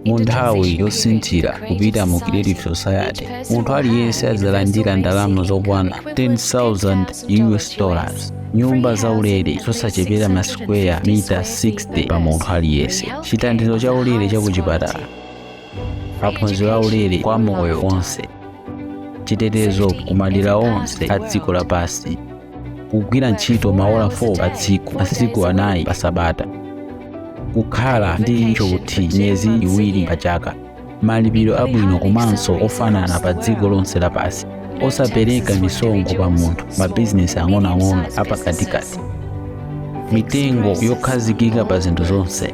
mu nthawi yosinthira kupita mu creative society munthu aliyense adzalandira ndalama zokwana 10,000 us dollars nyumba zaulere zosachepera masikweya mita 60 pa munthu aliyense chithandizo chaulere chakuchipatala maphunziro aulere kwa moyo wonse chitetezo kumadera onse a dziko lapansi kugwira ntchito maola 4 pa tsiku masiku anayi pa sabata kukhala ndi tchuthi miyezi iwiri pa chaka malipiro abwino komanso ofanana pa dziko lonse lapansi osapereka misonkho pa munthu mabizinesi ang'onoang'ono apakatikati mitengo yokhazikika pa zinthu zonse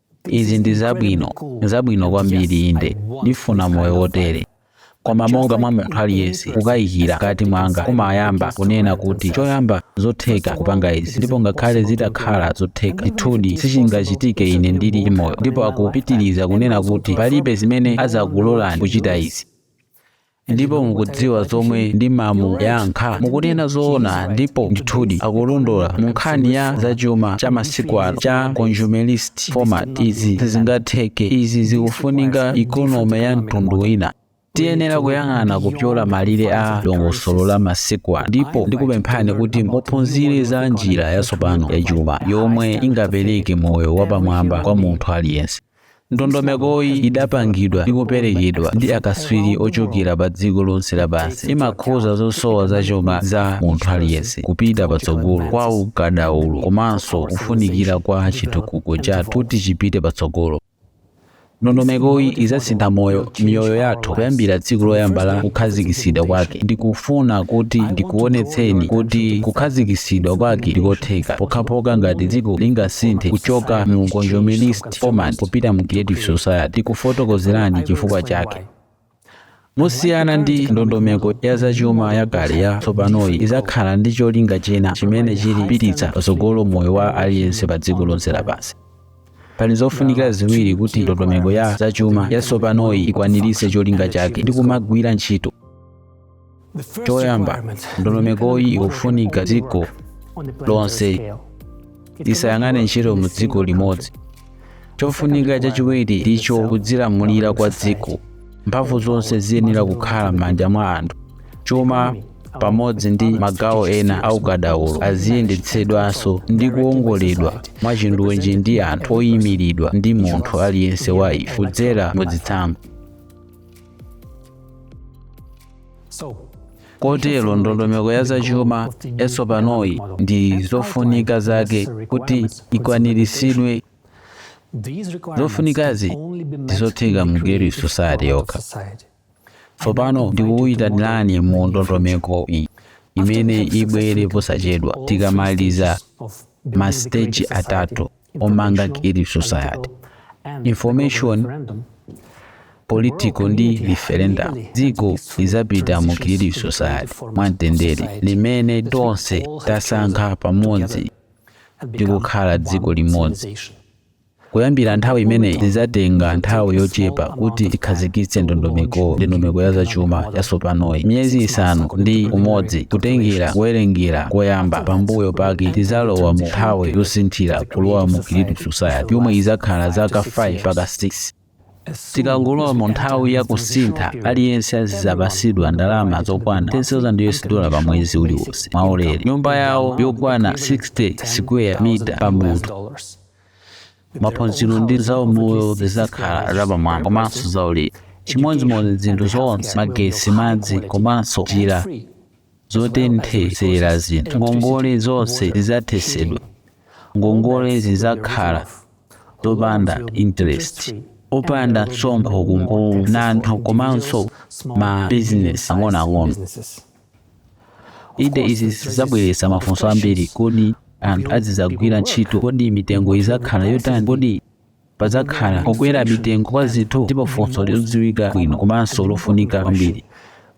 izi ndi zabwino zabwino kwambiri inde ndifuna moyo wotere koma monga mwa munthu aliyense kukayikira mkati mwanga kumayamba kunena kuti choyamba nzosatheka kupanga izi ndipo ngakhale zitakhala zotheka ndithudi sichingachitike ine ndili moyo ndipo akupitiriza kunena kuti palibe amene adzakulolani kuchita izi ndipo mukudziwa zomwe ndimamuyankha mukunena zoona ndipo ndithudi akulondola mu nkhani ya zachuma cha masiku ano cha consumerist format izi sizingatheke izi zikufunika ikonome ya mtundu wina tiyenera kuyang'ana kupyola malire a dongosolo la masiku ano ndipo ndikupemphani kuti muphunzire za njira yatsopano yachuma yomwe ingapereke moyo wapamwamba kwa munthu aliyense Ndondomekoyi idapangidwa ndi kuperekedwa ndi akaswiri ochokera pa dziko lonse lapansi. Imakhuza zosowa za chuma za munthu aliyense, kupita patsogolo kwa ukadaulo komanso kufunikira kwa chitukuko chathu kuti chipite patsogolo. Ndondomekoyi izasintha moyo miyoyo yathu kuyambira tsiku loyamba la kukhazikitsidwa kwake ndikufuna kuti ndikuonetseni kuti kukhazikitsidwa kwake ndikotheka pokhapokha ngati dziko lingasinthe kuchoka mu consumerist format kupita mu creative society ndikufotokozerani chifukwa chake mosiyana ndi ndondomeko ya zachuma yakale yatsopanoyi idzakhala ndi cholinga china chimene chili kupititsa patsogolo moyo wa aliyense pa dziko lonse lapansi Pali zofunikira ziwiri kuti ndondomeko ya zachuma yatsopanoyi ikwaniritse cholinga chake ndi kumagwira ntchito. Choyamba, ndondomekoyi ikufunika dziko lonse siingagwire ntchito mu dziko limodzi. Chofunika chachiwiri ndicho kudzilamulira kwa dziko. mphamvu zonse ziyenera kukhala m'manja mwa anthu chuma pamodzi ndi magawo ena a ukadaulo aziyendetsedwanso ndi kuwongoledwa mwachindunji ndi anthu oyimiridwa ndi munthu aliyense wa ife kudzera mu zitsanzo kotero ndondomeko ya zachuma yatsopanoyi ndi zofunika zake kuti ikwaniritsidwe zofunikazi ndizotheka mu creative society yokha tsopano ndikukuyitanirani mu ndondomeko iyi imene ibwere posachedwa tikamaliza masiteji atatu omanga creative society information political ndi referendum dziko lidzapita mu creative society mwamtendere limene tonse tasankha pamodzi ndi kukhala dziko limodzi kuyambira nthawi imeneyi zidzatenga nthawi yochepa kuti tikhazikitse ndondomeko ndi ndondomeko ya zachuma yatsopanoyi miyezi isanu ndi umodzi kutengera kuwerengera koyamba pambuyo pake tidzalowa mu nthawi yosinthira kulowa mu creative society yomwe idzakhala zaka 5 mpaka 6 tikangolowa mu nthawi ya kusintha aliyense azidzapatsidwa ndalama zokwana 10,000 us dollar pa mwezi uliwonse mwaulere nyumba yawo yokwana 60 square mita pa munthu maphunziro ndi zaumoyo zidzakhala zapamwamba komanso zaulere chimodzimodzi zinthu zonse magesi madzi komanso njira zotenthetsera zinthu ngongole zonse zidzathetsedwa ngongole zidzakhala zopanda interest opanda msonkho kwa anthu komanso ma business ang'onoang'ono inde izi zidzabweretsa mafunso ambiri kodi anthu azidzagwira ntchito kodi mitengo idzakhala yotani kodi Padzakhala kukwera mitengo kwa zinthu ndipo funso lodziwika bwino komanso lofunika kwambiri.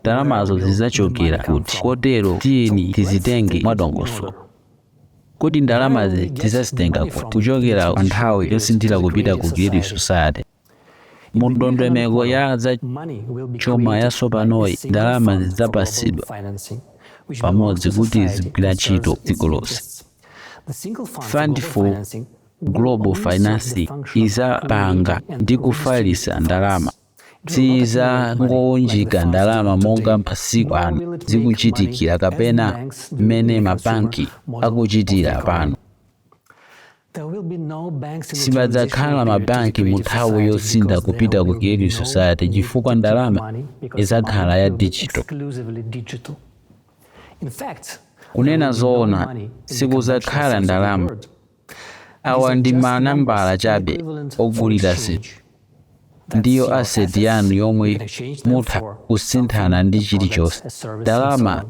Ndalamazo zidzachokera kuti? Kotero tiyeni tizitenge mwadongosolo. Kodi ndalamazi tidzazitenga kuti? Kuchokera pa nthawi yosinthira kupita ku Creative Society. Mu ndondomeko ya za chuma yatsopanoyi, ndalama zidzapangidwa pamodzi kuti zigwire ntchito dziko lonse. Fund for Global Financing idzapanga ndi kufalisa ndalama sidzangowunjika ndalama monga masiku ano zikuchitikira kapena mmene mabanki akuchitira pano. Sipadzakhala mabanki mu nthawi yosintha kupita ku Creative Society chifukwa ndalama idzakhala ya digital. Kunena zoona, sikudzakhala ndalama Awa ndi manambala chabe ogulira zinthu. Ndiyo asset yanu yomwe mutha kusinthana ndi chilichonse. Ndalama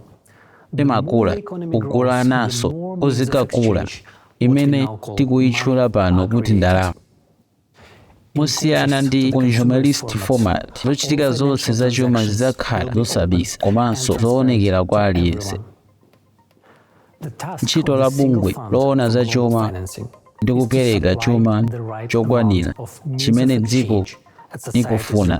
imakula kugulananso kudzikakula imene tikuyitchula pano kuti ndalama. mosiyana ndi consumerist format zochitika zonse za chuma zidzakhala zosabisa komanso zoonekera kwa aliyense ntchito ya bungwe loona za chuma ndi kupereka chuma chokwanira chimene dziko likufuna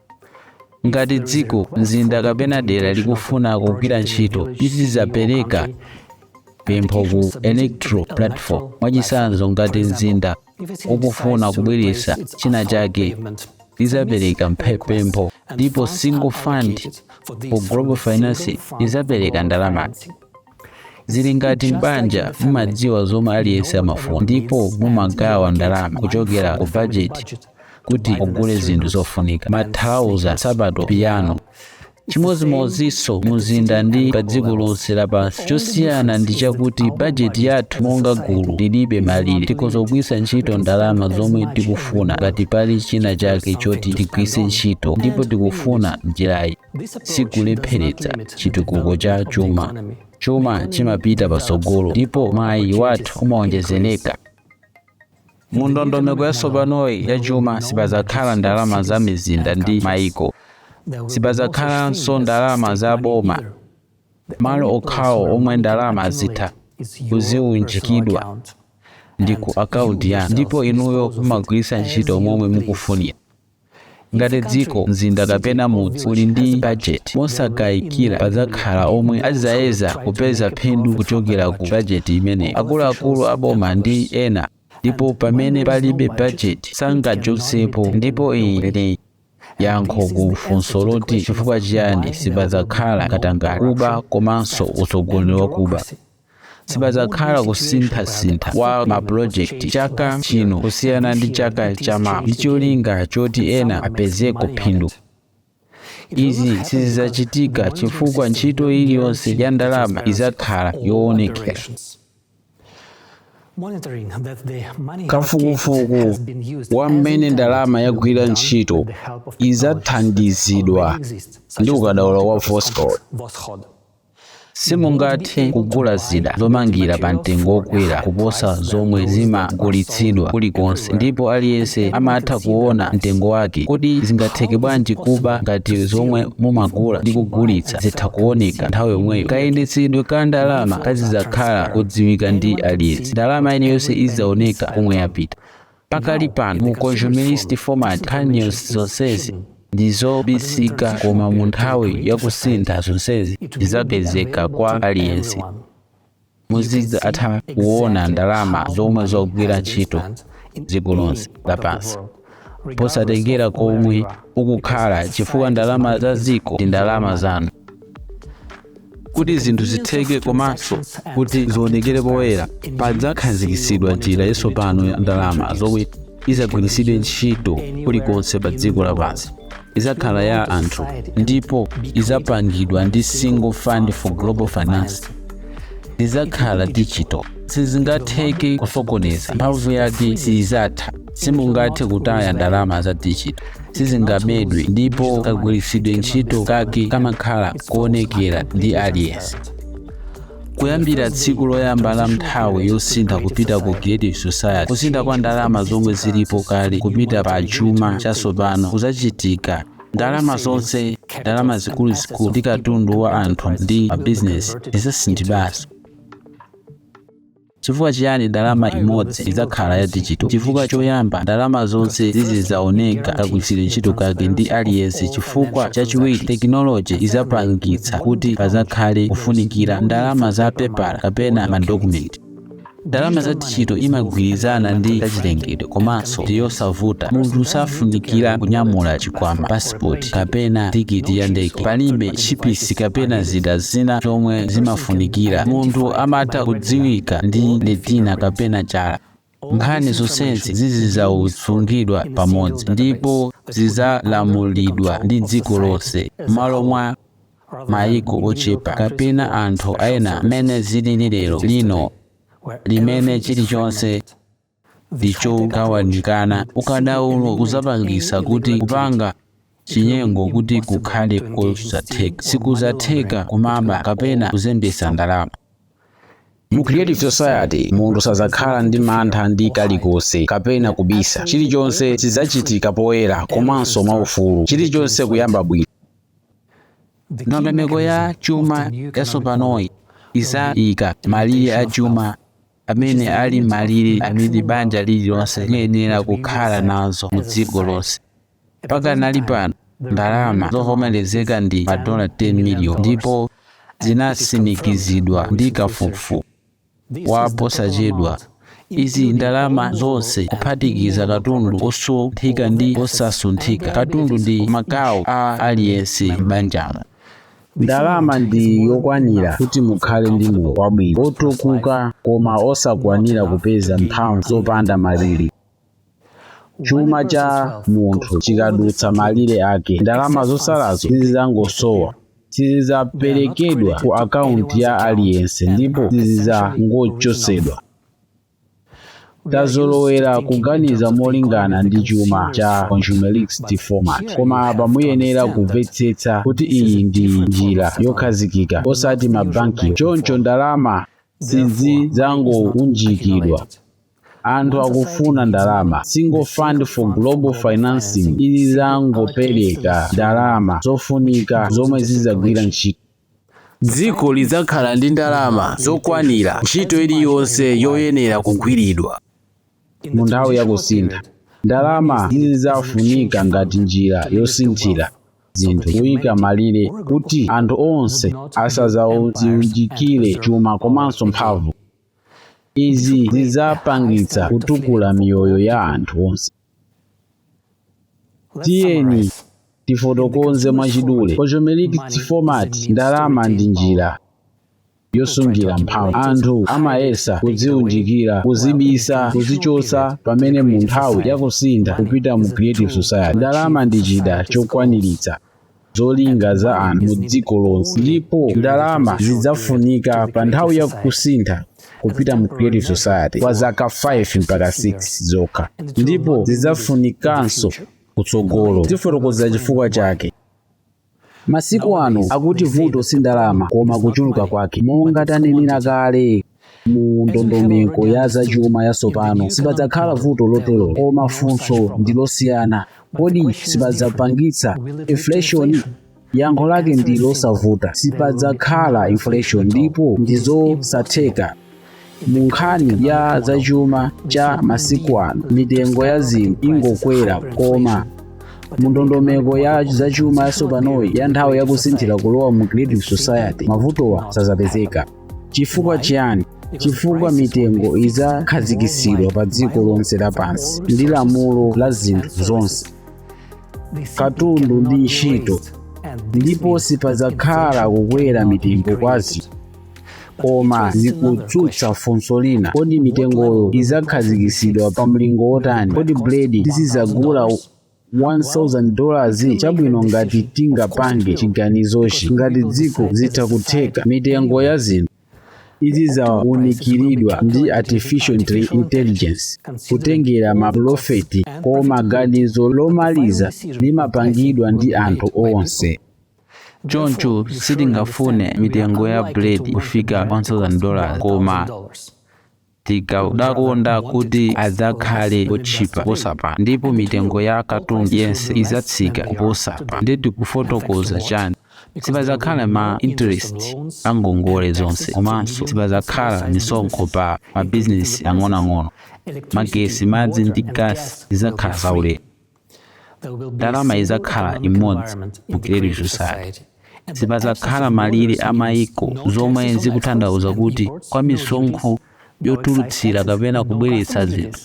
Ngati dziko, mzinda kapena dera likufuna kugwira ntchito, lizidzapereka pempho ku Electro Platform. Mwachitsanzo, ngati mzinda ukufuna kubweretsa china chake, lidzapereka mphe- pempho ndipo Single Fund for Global Financing idzapereka ndalamazi. zili ngati m'banja mumadziwa zomwe aliyense amafuna ndipo mumagawa ndalama kuchokera ku bajeti kuti mugule zinthu zofunika masausa sapato piyano chimodzimodzinso mumzinda ndi pa dziko lonse lapansi chosiyana ndi chakuti bajeti yathu monga gulu lilibe malire tikhoza kugwiritsa ntchito ndalama zomwe tikufuna ngati pali china chake choti tigwiritse ntchito ndipo tikufuna njirayi sikulepheretsa chitukuko cha chuma chuma chimapita patsogolo ndipo mwayi wathu umawonjezereka mu ndondomeko yatsopanoyi ya chuma sipadzakhala ndalama za mizinda ndi mayiko sipadzakhalanso ndalama za boma malo okhawo omwe ndalama zitha kuziunjikidwa ndi ku akaunti yanu ndipo inuyo mumagwiritsa ntchito momwe mukufunira ngati dziko mzinda kapena mudzi uli ndi bajeti mosakayikira padzakhala omwe adzayesa kupeza phindu kuchokera ku bajeti imeneyo akuluakulu aboma ndi ena ndipo pamene palibe bajeti sangachotsepo ndipo iyi ndi yankho ku funso loti chifukwa chiyani sipadzakhala katangale kuba komanso utsogoleri wakuba sipadzakhala kusinthasintha kwa mapulojekiti chaka chino kusiyana ndi chaka chamawa ndi cholinga choti ena apezeko phindu izi sizidzachitika chifukwa ntchito iliyonse ya ndalama idzakhala yoonekera kafukufuku wa mmene ndalama yagwira ntchito idzathandizidwa ndi ukadaulo wa voscod simungathe kugula zida zomangira pa mtengo wokwera kuposa zomwe zimagulitsidwa kulikonse ndipo aliyense amatha kuona mtengo wake kodi zingatheke bwanji kuba ngati zomwe mumagula ndi kugulitsa zitha kuoneka nthawi yomweyo kayendetsedwe ka ndalama kazidzakhala kodziwika ndi aliyense ndalama iliyonse idzaoneka komwe yapita Pakali pano mu consumerist format nkhani zonsezi ndi zobisika koma mu nthawi ya kusintha zonsezi zidzapezeka kwa aliyense. Muzidzatha kuona ndalama zomwe zogwira ntchito dziko lonse lapansi posatengera komwe ukukhala chifukwa ndalama za dziko ndi ndalama zanu. kuti zinthu zitheke komanso kuti zionekere poyera padzakhazikitsidwa njira yatsopano ya ndalama zomwe idzagwiritsidwe ntchito kulikonse pa dziko lapansi idzakhala ya anthu ndipo idzapangidwa ndi single fund for global finance idzakhala digital sizingatheke kusokoneza mphamvu yake siizatha simungathe kutaya ndalama za digital sizingabedwe ndipo kagwiritsidwe ntchito kake kamakhala koonekera ndi aliyense kuyambira tsiku loyamba la nthawi yosintha kupita ku creative society kusintha kwa ndalama zomwe zilipo kale kupita pa chuma chatsopano kuzachitika ndalama zonse ndalama zikuluzikulu ndi katundu wa anthu ndi mabizinesi zizasinthidwanso Chifukwa chiyani ndalama imodzi idzakhala ya dijito? Chifukwa choyamba, ndalama zonse zizidzaoneka kagwiritsidwe ntchito kake ndi aliyense. Chifukwa chachiwiri, tekinoloje idzapangitsa kuti pasakhale kufunikira ndalama za pepala kapena madokumenti. Ndalama za dijito imagwirizana ndi zachilengedwe komanso ndi yosavuta. Munthu safunikira kunyamula chikwama pa pasipoti kapena tikiti ya ndege palibe chipisi kapena zida zina zomwe zimafunikira munthu amatha kudziwika ndi letina kapena chala nkhani zonsezi zizidzasungidwa pamodzi ndipo zidzalamulidwa ndi dziko lonse m'malo mwa mayiko ochepa kapena anthu ena mmene zilili lero lino limene chilichonse ndi chogawanikana ukadaulo udzapangisa kuti kupanga chinyengo kuti kukhale kosatheka sikuzatheka kumaba kapena kuzembesa ndalama mu creative society munthu sazakhala ndi mantha ndi kalikonse kapena kubisa chilichonse chidzachitika poyera komanso mwaufulu chilichonse kuyamba bwino ndondomeko ya chuma yasopanoyi izayika malire a chuma amene ali malire amene banja lililonse liyenera kukhala nazo mu dziko lonse pakadali pano ndalama zovomerezeka ndi madola 10 miliyoni ndipo zinatsimikizidwa ndi kafukufuku wa posachedwa izi ndalama zonse kuphatikiza katundu osunthika ndi osasunthika katundu ndi magawo a aliyense m'banjamo ndalama ndi yokwanira kuti mukhale ndi moyo wabwino wotukuka koma osakwanira kupeza mphamvu zopanda malire chuma cha munthu chikadutsa malire ake ndalama zotsalazo sizidzangosowa sizidzaperekedwa ku akaunti ya aliyense ndipo sizizangochotsedwa tazolowera kuganiza molingana ndi chuma cha consumerist format koma apa muyenera kumvetsetsa kuti iyi ndi njira yokhazikika osati mabanki choncho ndalama sizidzangounjikidwa anthu akufuna ndalama single fund for global financing idzangopereka ndalama zofunika zomwe zidzagwira ntchito Dziko lidzakhala ndi ndalama zokwanira ntchito iliyonse yoyenera kugwiridwa. Mu nthawi ya kusintha, ndalama sizidzafunika ngati njira yosinthira zinthu kuika malire kuti anthu onse asadzadziunjikire chuma komanso mphamvu. Izi zidzapangitsa kutukula miyoyo ya anthu onse. tiyeni tifotokoze mwachidule consumerist format ndalama ndi njira yosungira mphamvu anthu amayesa kudziunjikira kuzibisa kuzichotsa pamene mu nthawi yakusintha kupita mu creative society ndalama ndi chida chokwaniritsa zolinga za anthu mu dziko lonse ndipo ndalama zidzafunika pa nthawi ya kusintha kupita mu creative society kwa zaka 5 mpaka 6 zokha ndipo sizidzafunikanso kutsogolo tifotokoza chifukwa chake masiku ano akuti vuto si ndalama koma kuchuluka kwake monga tanenera kale mu ndondomeko ya zachuma yatsopano sipadzakhala vuto lotero koma funso ndi losiyana kodi sizidzapangitsa inflation yankho lake ndi losavuta sipadzakhala inflation ndipo ndi zosatheka mu nkhani ya zachuma cha masiku ano mitengo ya zinthu ingokwera koma mu ndondomeko ya zachuma yatsopanoyi ya nthawi yakusinthira kulowa mu creative society mavutowa sazapezeka chifukwa chiyani chifukwa mitengo idzakhazikitsidwa pa dziko lonse lapansi ndi lamulo la zinthu zonse katundu ndi ntchito ndipo sipadzakhala kukwera mitengo kwa zinthu koma zikudzutsa funso lina kodi mitengoyo idzakhazikitsidwa pa mlingo wotani kodi buledi tizidzagula 1000 dollars chabwino ngati tingapange chiganizochi ngati dziko zitha kutheka mitengo ya zinthu izidzaunikiridwa ndi artificial Intelli- intelligence kutengera mapulofiti koma ganizo lomaliza limapangidwa ndi anthu onse choncho sitingafune mitengo ya buledi kufika 1000 dollars koma Tikadakonda kuti adzakhale otchipa kuposa pano, ndipo mitengo ya katundu yense idzatsika kuposa pano. Ndiye tikufotokoza chani? Sipadzakhala ma interest pa ngongole zonse komanso sipadzakhala misonkho pa mabizinesi ang'onoang'ono. Magesi, madzi ndi gas zidzakhala zaulere. ndalama idzakhala imodzi mu Creative Society sipadzakhala malire a maiko zomwe zikutanthauza kuti kwa misonkho yotulutsira kapena kubweretsa zinthu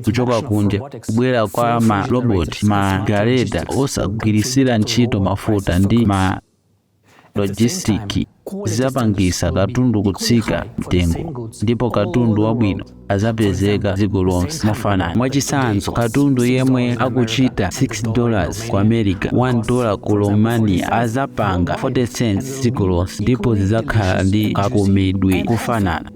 kuchoka kunja kubwera kwa maroboti magareta osagwiritsira ntchito mafuta ndi ma lojisitiki zidzapangisa katundu kutsika mtengo ndipo katundu wabwino adzapezeka dziko lonse mofanana mwachisanzo katundu yemwe akuchita 6 dollars ku america 1 dollar ku romania adzapanga 40 cents dziko lonse ndipo zidzakhala ndi kakomedwe kofanana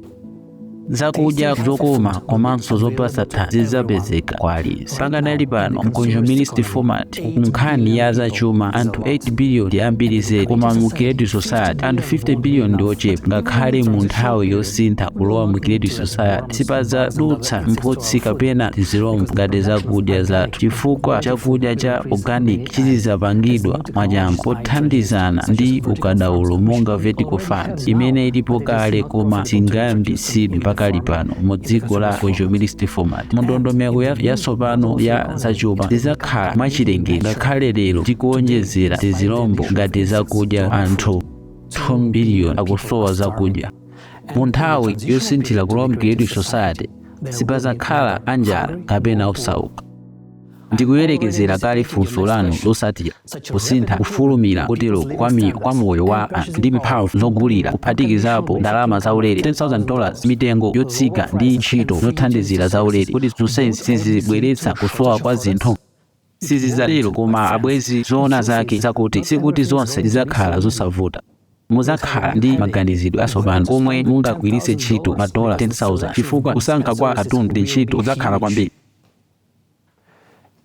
zakudya zokoma komanso zopatsa thanzi zidzapezeka kwa aliyense pakadali pano mu consumerist format kunkhani ya zachuma anthu 8 billion ndi ambiri zedi koma mu creative society anthu 50 billion ndi ochepa ngakhale mu nthawi yosintha kulowa mu creative society sipadzadutsa mphutsi kapena tizilombo ngati zakudya zathu chifukwa chakudya cha organic chizidzapangidwa mwachangu pothandizana ndi ukadaulo monga vertical farm imene ilipo kale koma singayambitsidwe pakali pano mu dziko la consumerist format mu ndondomeko ya- yatsopano ya zachuma zidzakhala mwachilengedwe ngakhale lero tikuonjezera tizilombo ngati zakudya anthu 2 biliyoni akusowa zakudya mu nthawi yosinthira kulowa mu creative society sipazakhala anjala kapena osauka Ndikuyerekezera kale funso lanu lotsatira, kusintha kofulumira koteroko kwa mi- kwa moyo wa anthu ndi mphamvu zogulira, kuphatikizapo ndalama zaulere, $10,000, mitengo yotsika ndi ntchito zothandizira zaulere. Kodi zonsezi sizibweretsa kusowa kwa zinthu? Sizidzatero koma abwenzi, zoona zake zakuti sikuti zonse zidzakhala zosavuta. Mudzakhala ndi maganizidwe atsopano komwe mungagwiritse ntchito madola 10,000 chifukwa kusankha kwa katundu ndi ntchito kudzakhala kwambiri.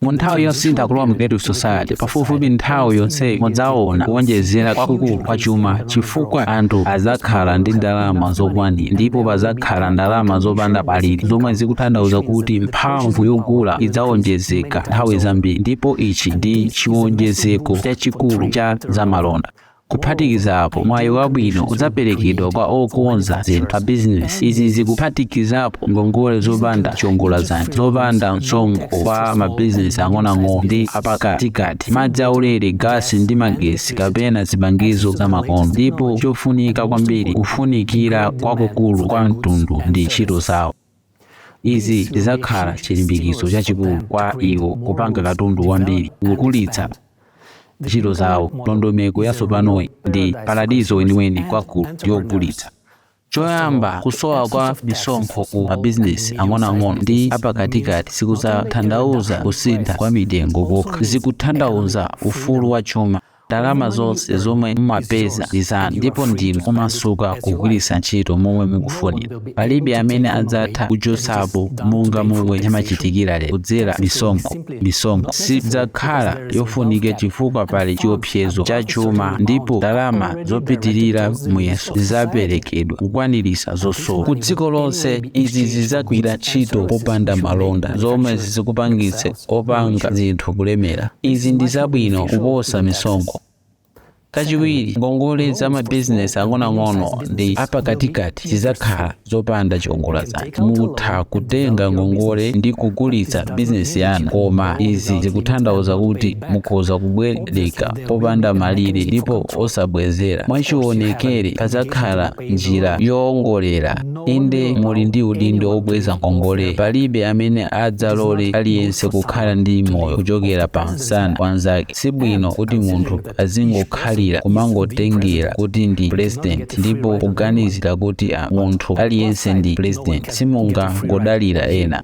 Mu nthawi yosintha kulowa mu Creative Society, pafupifupi nthawi yonseyi mudzaona kuwonjezera kwakukulu kwa chuma chifukwa anthu adzakhala ndi ndalama zokwanira ndipo padzakhala ndalama zopanda malire zomwe zikutanthauza kuti mphamvu yogula idzawonjezeka nthawi zambiri ndipo ichi ndi chiwonjezeko chachikulu cha zamalonda. Kuphatikiza apo, mwayi wabwino udzaperekedwa kwa okonza zinthu pa bizinesi. Izi zikuphatikizapo ngongole zopanda chiongoladzanja, zopanda msonkho kwa mabizinesi ang'onoang'ono ndi apakatikati, madzi aulere, gasi ndi magetsi kapena zipangizo zamakono, ndipo chofunika kwambiri, kufunikira kwakukulu kwa mtundu ndi ntchito zawo. Izi zidzakhala chilimbikitso chachikulu kwa iwo kupanga katundu wambiri ndikukulitsa ntchito zawo. Ndondomeko yatsopanoyi ndi paradizo weniweni kwa ogula ndi ogulitsa. Choyamba, kusowa kwa misonkho ku mabizinesi ang'onoang'ono ndi apakatikati sikudzatanthauza kusintha kwa mitengo kokha, zikutanthauza ufulu wa chuma. Ndalama zonse zomwe mumapeza ndi zanu ndipo ndinu omasuka kugwiritsa ntchito momwe mukufunira. Palibe amene adzatha kuchotsapo monga momwe zimachitikira lero kudzera misonkho. Misonkho sidzakhala yofunika chifukwa pali chiopsezo cha chuma ndipo ndalama zopitirira muyeso zidzaperekedwa kukwaniritsa zosowa. Ku dziko lonse, izi zidzagwira ntchito popanda malonda zomwe zikupangitse opanga zinthu kulemera. Izi ndi zabwino kuposa misonkho. Kachiwiri, ngongole za mabizinesi ang'onoang'ono ndi apakatikati zidzakhala zopanda chiongoladzanja. Mutha kutenga ngongole ndi kukulitsa bizinesi yanu, koma izi zikutanthauza kuti mukhoza kubwereka popanda malire ndipo osabwezera. Mwachionekere, padzakhala njira yoongolera. Inde, muli ndi udindo wobweza ngongole. Palibe amene adzalole aliyense kukhala ndi moyo kuchokera pa msana wa mnzake. Si bwino kuti munthu azingokhalira kumangotengera kuti ndi president ndipo kuganizira kuti a munthu aliyense ndi president. Simungangodalira ena.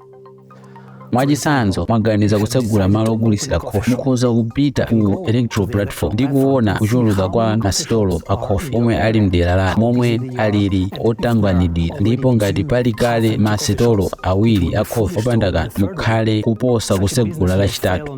mwachitsanzo mwaganiza kutsegula malo ogulitsira khofi mukhoza kupita ku electro platform ndi kuona kuchuluka kwa masitolo a khofi omwe ali mdera lanu momwe alili otanganidwira ndipo ngati pali kale masitolo awiri a khofi opanda kanthu mukhale kuposa kutsegula lachitatu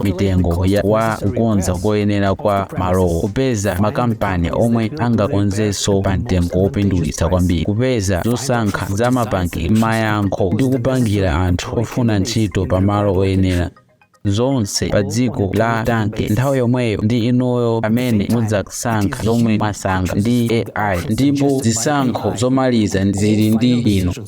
mitengo ya wa kukonza koyenera kwa malowo kupeza makampani omwe angakonzenso pa mtengo wopindulitsa kwambiri kupeza zosankha za mapangidwe mayankho ndi kupangira anthu ofuna ntchito pa malo oyenera zonse pa dziko la tanke nthawi yomweyo ndi inuyo amene mudzasankha zomwe mwasankha ndi ai ndipo zisankho zomaliza zili ndi inu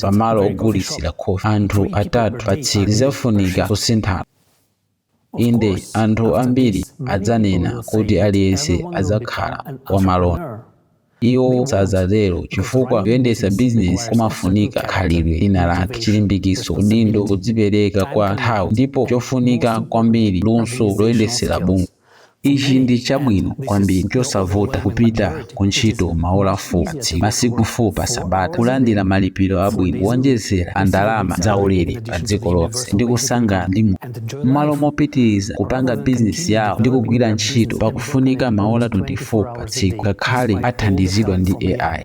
pamalo ogulitsira khofi anthu atatu pa tsiku zidzafunika kusintha inde anthu ambiri adzanena kuti aliyense adzakhala wamalonda iwo sadzatero chifukwa kuyendetsa bizinesi kumafunika khalidwe lina lake chilimbikitso udindo kudzipereka kwa nthawi ndipo chofunika kwambiri luso loyendetsera bungwe Ichi ndi chabwino kwambiri, chosavuta kupita ku ntchito maola 4 pa tsiku, masiku 4 pa sabata, kulandira malipiro abwino, kuwonjezera pa ndalama zaulere pa dziko lonse, ndi kusangalala ndi moyo. M'malo mopitiriza kupanga bizinesi yawo ndi kugwira ntchito pakufunika maola 24 pa tsiku, ngakhale athandizidwa ndi AI.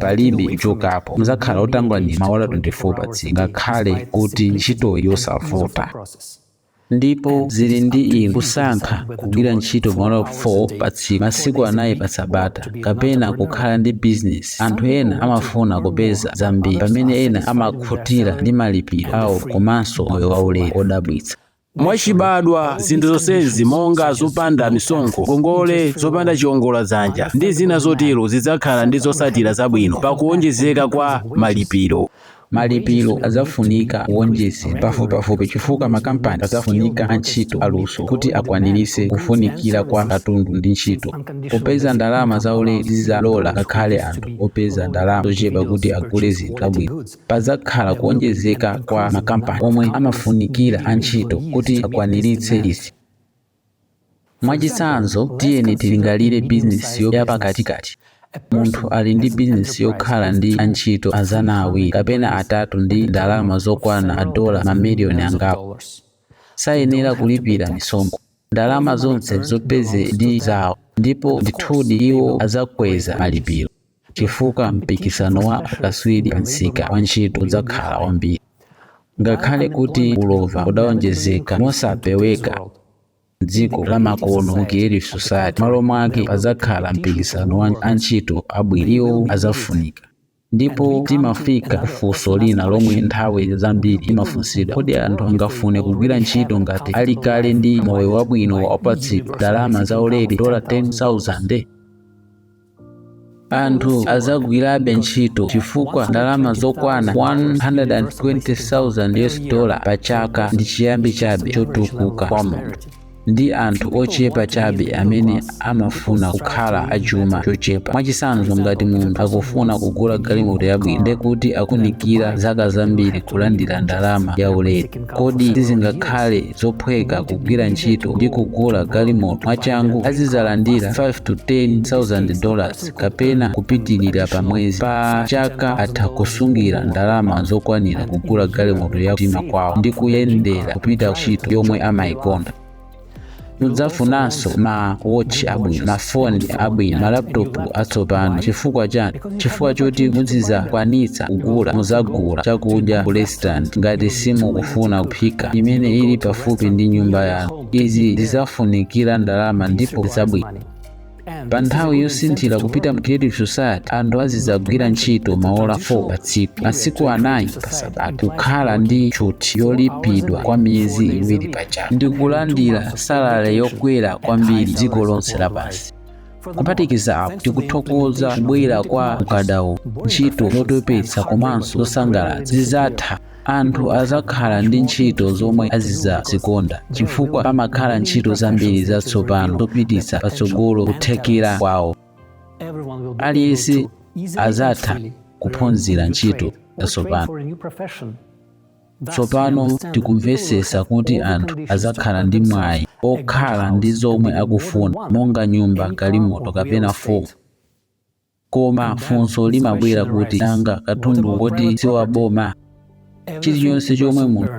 palibe chokapo mudzakhala otanganidwa maola 24 patsiku ngakhale kuti ntchitoyi yosavuta ndipo zili ndi inu kusankha kugwira ntchito maola 4 patsiku masiku anayi pa sabata kapena kukhala ndi bizinesi anthu ena amafuna kupeza zambiri pamene ena amakhutira ndi malipiro awo komanso moyo waulere wodabwitsa Mwachibadwa, zinthu zonsezi monga zopanda misonkho, ngongole zopanda chiongola dzanja, ndi zina zotero zidzakhala ndi zotsatira zabwino pa kuwonjezeka kwa malipiro. Malipiro adzafunika kuwonjezedwa pafupipafupi chifukwa makampani adzafunika antchito aluso kuti akwaniritse kufunikira kwa katundu ndi ntchito. Kupeza ndalama zaulere zidzalola ngakhale anthu opeza ndalama zochepa kuti agule zinthu zabwino. Padzakhala kuwonjezeka kwa makampani omwe amafunikira antchito kuti akwaniritse izi. Mwachitsanzo, tiyeni tilingalire bizinesi yapakatikati. Munthu ali ndi bizinesi yokhala ndi antchito mazana awiri kapena atatu ndi ndalama zokwana madola mamiliyoni angapo. Sayenera kulipira misonkho. Ndalama zonse zopezedwa ndi zawo, ndipo ndithudi iwo adzakweza malipiro. chifukwa mpikisano wa akatswiri a msika wa ntchito udzakhala wambiri. Ngakhale kuti ulova udzawonjezeka mosapeweka m'dziko lamakono mu Creative Society, malo mwake padzakhala mpikisano wa ntchito abwino. Iwo adzafunika. Ndipo timafika ku funso lina lomwe nthawi zambiri limafunsidwa, kodi anthu angafune kugwira ntchito ngati ali kale ndi moyo wabwino apatsidwa ndalama zaulere, dola 10,000? anthu adzagwirabe ntchito chifukwa ndalama zokwana 120,000 US dollar pa chaka ndi chiyambi chabe chotukuka kwa munthu ndi anthu ochepa chabe amene amafuna kukhala a chuma chochepa mwachitsanzo ngati munthu akufuna kugula galimoto yabwino ndekuti akufunikira zaka zambiri kulandira ndalama ya ulere kodi sizingakhale zophweka kugwira ntchito ndi kugula galimoto mwachangu azidzalandira 5 to 10000 dollars kapena kupitirira pamwezi pa chaka atha kusungira ndalama zokwanira kugula galimoto ya mtima kwawo ndi kuyendera kupita ntchito yomwe amayikonda mudzafunanso ma watch abwino mafoni abwino malaptop atsopano chifukwa chani chifukwa choti muzidzakwanitsa kugula mudzagula chakudya ku restaurant ngati simukufuna kuphika imene ili pafupi ndi nyumba yanu izi zidzafunikira ndalama ndipo zabwino pa nthawi yosinthira kupita mu creative society anthu azidzagwira ntchito maola 4 pa tsiku masiku anayi pa sabata kukhala ndi tchuthi yolipidwa kwa miyezi iwiri pa chaka ndi kulandira salale yokwera kwambiri dziko lonse lapansi kuphatikiza apo tikuthokoza kubwera kwa ukadaulo ntchito zotopetsa komanso zosasangalatsa zidzatha Anthu adzakhala ndi ntchito zomwe azidzazikonda chifukwa padzakhala ntchito zambiri zatsopano zopititsa patsogolo kuthekera kwawo. Aliyense adzatha kuphunzira ntchito zatsopano. Tsopano tikumvetsetsa kuti anthu adzakhala ndi mwayi okhala ndi zomwe akufuna monga nyumba, galimoto kapena foni. Koma funso limabwera kuti nanga katundu woti si wa boma? Chilichonse chomwe munthu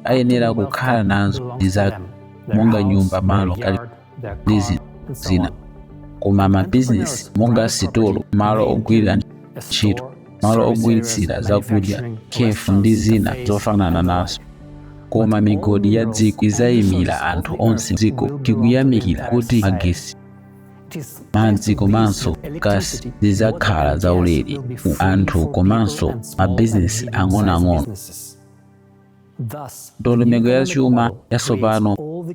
ayenera kukhala nazo ndi zake monga nyumba, malo, galimoto ndi zinthu zina. Koma mabizinesi monga sitolo, malo ogwirira ntchito, malo ogulitsira zakudya, cafe ndi zina zofanana nazo. Koma migodi ya dziko idzaimira anthu onse m'dziko. Tikuyamikira kuti magetsi madzi komanso gasi zidzakhala zaulere ku anthu komanso mabizinesi ang'onoang'ono ndondomeko ya chuma yatsopano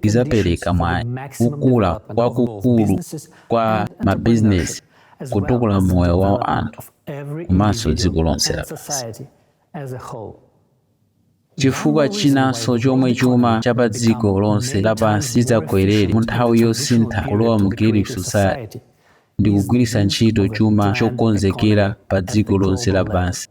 idzapereka mwayi kukula kwakukulu kwa mabizinesi kutukula moyo wa anthu komanso dziko lonse lapansi Chifukwa chinanso chomwe chuma cha padziko lonse lapansi chidzagwerere mu nthawi yosintha kulowa mu Creative Society ndi kugwiritsa ntchito chuma chokonzekera padziko lonse lapansi.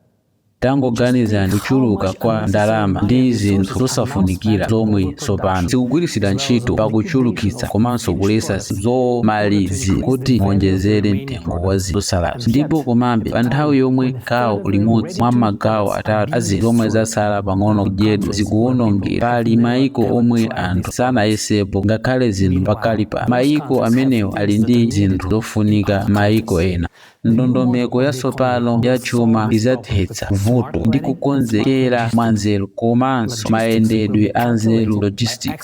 Tangoganizani kuchuluka kwa ndalama ndi zinthu zosafunikira zomwe tsopano zikugwiritsidwa ntchito pa kuchulukitsa komanso kuletsa zinthu zomalizira kuti awonjezere mtengo wa zinthu zotsalazo ndipo komabe pa nthawi yomwe Gawo limodzi mwa magawo atatu a zinthu zomwe zatsala pang'ono kudyedwa zikuwonongedwa. Pali mayiko omwe anthu sanayesepo ngakhale zinthu pakali pano. Mayiko amenewa ali ndi zinthu zofunika mayiko ena. Ndondomeko yatsopano ya chuma idzathetsa vuto ndi kukonzekera mwanzeru komanso mayendedwe anzeru, logistics.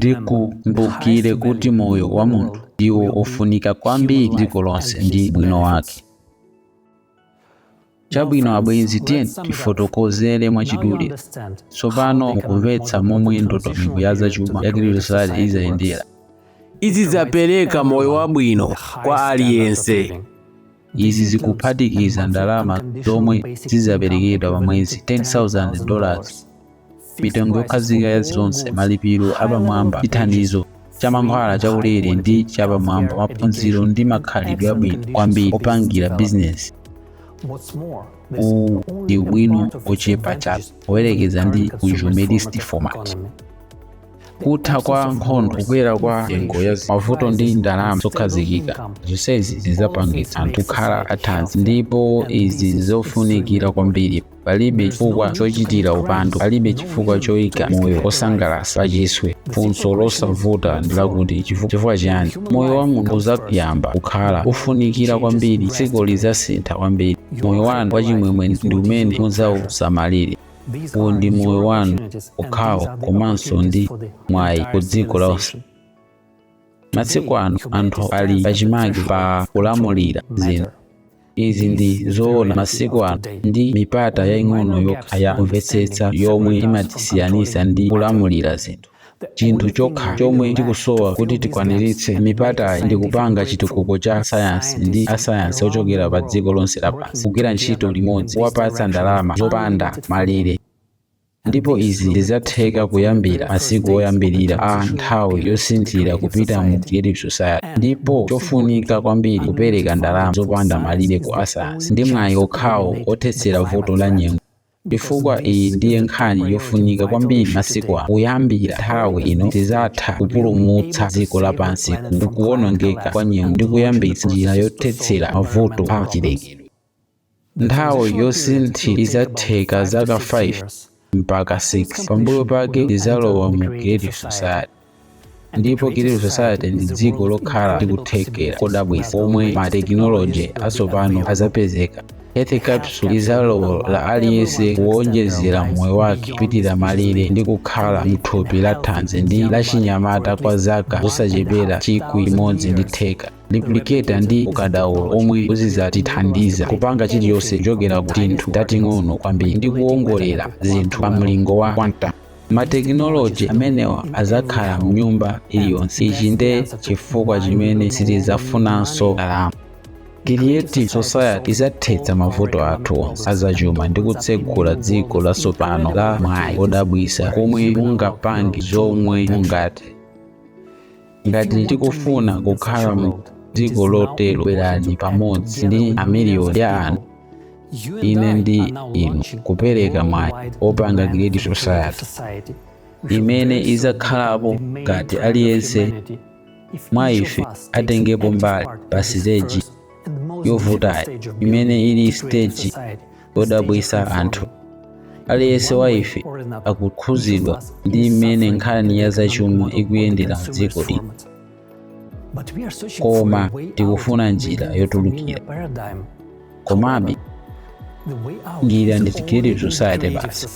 tikumbukire kuti moyo wa munthu ndiwo ofunika kwambiri m'dziko lonse ndi ubwino wake chabwino abwenzi tiyeni tifotokozere mwachidule tsopano mukumvetsa momwe ndondomeko ya zachuma ya Creative Society idzayendera izi zidzapereka moyo wabwino kwa aliyense izi zikuphatikiza ndalama zomwe zidzaperekedwa pa mwezi 10,000 dollars mitengo yokhazika ya zonse malipiro apamwamba chithandizo cha mankhwala chaulere ndi chapamwamba maphunziro ndi makhalidwe abwino kwambiri opangira bizinesi uwu ndi ubwino ochepa chabe poyerekeza ndi consumerist format kutha kwa nkhondo kukwera kwa nyengo ya mavuto ndi ndalama zokhazikika zonsezi zidzapangitsa anthu kukhala athanzi ndipo izi ndi zofunikira kwambiri palibe chifukwa chochitira upandu palibe chifukwa choika moyo wosangalatsa pachiswe funso losavuta ndi lakuti chifu- chifukwa chiyani moyo wa munthu udzayamba kukhala wofunikira kwambiri dziko lidzasintha kwambiri moyo wanu wachimwemwe ndi umene mudzausamalire Uwu ndi moyo wanu wokhawo komanso ndi mwayi ku dziko lonse. Masiku ano anthu ali pachimake pa kulamulira zinthu. Izi ndi zoona masiku ano ndi mipata yaing'ono yokha ya kumvetsetsa yomwe imatisiyanitsa ndi kulamulira zinthu. chinthu chokha chomwe tikusowa kuti tikwaniritse mipatayi ndi kupanga chitukuko cha sayansi ndi asayansi ochokera pa dziko lonse lapansi kugwira ntchito limodzi kuwapatsa ndalama zopanda malire ndipo izi zidzatheka kuyambira masiku oyambirira a nthawi yosinthira kupita mu creative society ndipo chofunika kwambiri kupereka ndalama zopanda malire ku asayansi ndi mwayi okhawo othetsera vuto la nyengo Chifukwa iyi ndiye nkhani yofunika kwambiri masiku ano. Kuyambira nthawi ino tidzatha kupulumutsa dziko lapansi ku kuwonongeka kwa nyengo ndi kuyambitsa njira yothetsera mavuto a chilengedwe. Nthawi yosinthira idzatenga zaka 5 mpaka 6, pambuyo pake tidzalowa mu Creative Society. ndipo Creative Society ndi dziko lokhala ndi kuthekera kodabwitsa omwe matekinoloji atsopano adzapezeka health capsule izalola aliyense kuwonjezera moyo wake kupitira malire ndi kukhala mthupi la thanzi ndi lachinyamata kwa zaka zosachepera chikwi chimodzi ndi theka lipliketa ndi ukadaulo omwe udzatithandiza kupanga chilichonse kuchokera ku tinthu tating'ono kwambiri ndi kuwongolera zinthu pa mlingo wa quantum Matekinoloji amenewa adzakhala m'nyumba iliyonse. Ichi nde chifukwa chimene sitidzafunanso ndalama. Creative Society idzathetsa mavuto athu onse azachuma ndi kutsegula dziko latsopano la mwayi odabwisa komwe mungapange zomwe mungate. ngati tikufuna kukhala mu dziko lotero bwerani pamodzi ndi amiliyoni ya anthu ine ndi inu kupereka mwayi opanga creative society imene izakhalapo ngati aliyense mwa ife atengepo mbali pa siteji yovutayi imene ili siteji yodziwitsa anthu aliyense wa ife akukhuzidwa ndi mmene nkhani ya zachuma ikuyendera mdziko lino koma tikufuna njira yotulukira komabe njira ndi creative society basi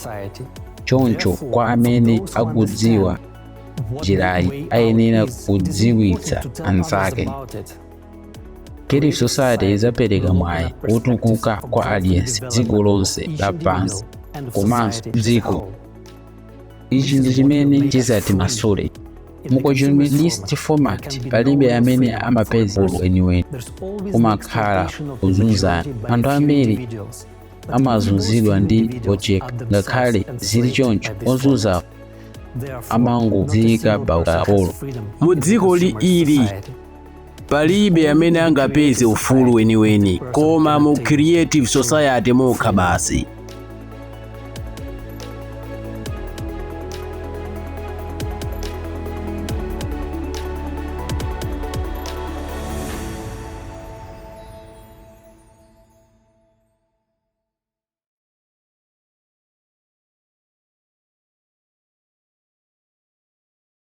choncho kwa amene akudziwa njirayi ayenera kudziwitsa anzake Creative Society idzapereka mwayi wotukuka kwa aliyense dziko lonse lapansi komanso dziko ichi ndi chimene chizatimasule mu consumerist format palibe amene amapeza ufulu weniweni kumakhala kuzunzana anthu ambiri amazunzidwa ndi ochepa ngakhale zili choncho ozunzawo amangodziika pa ukapolo mu dziko lino ili palibe amene angapeze ufulu weniweni koma mu creative society mokha basi